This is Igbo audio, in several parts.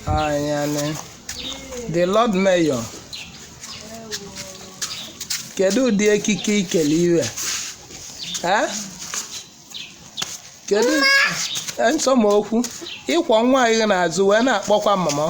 anyane the lord mayor kedu ụdị ekike i kele iwe Eh? kedu nsọmokwu ịkwọ nwa anyị n'azụ wee na-akpọkwa mama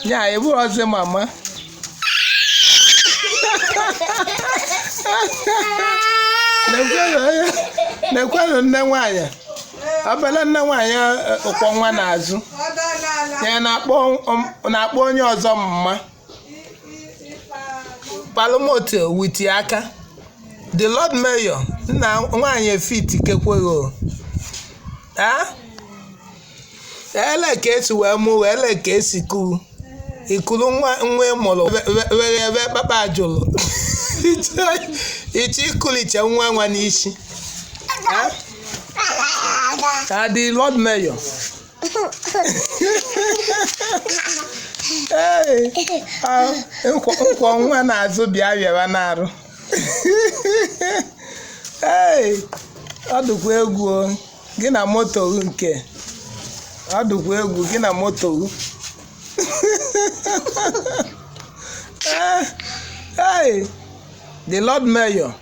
nya ị bụrụzi mama nekwanụ nne nwaanyị obele nne nwaanyị ọ kwọ nwa n'azụ ya na-akpọ onye ọzọ mama palmoto witi aka the lord mayor nne nwaanyị efit kekwe gị o ele ka esi wee mụ wee ele ka esi kuru i kuru nwa nwa ị mụrụ were ebe kpakpa ajụrụ iche ikuliche nwa nwa n'isi ka the lord mayor ee nkwọ nwa n'azụ bịa bịara n'arụ ee ọ dịkwa egwu o gị na moto gị nke ọ dịkwa egwu gị na moto gị Eh, hey, the lord mayor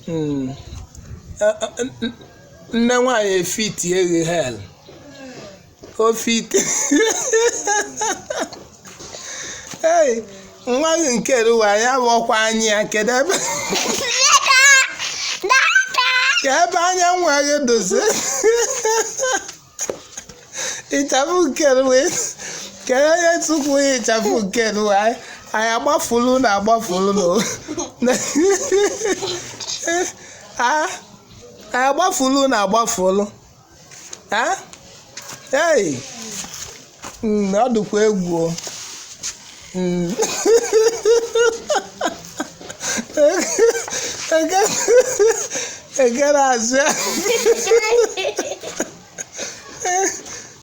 Mm. Eh, eh, n- n- nne nwanyị efitie gị hel o fitie nwa gị nke iru a ya bụ ọkwa anyị ya kedu ebe ka ebe anya nwa gị dozi ịchafụ nke iru a ka onye tupu ya ịchafụ nke iru a anyị agbafulu na agbafulu na anyị agbafulu na agbafulu Hey! Mm, ọ dịkwa egwu o. Mm. Ekere azụ ya.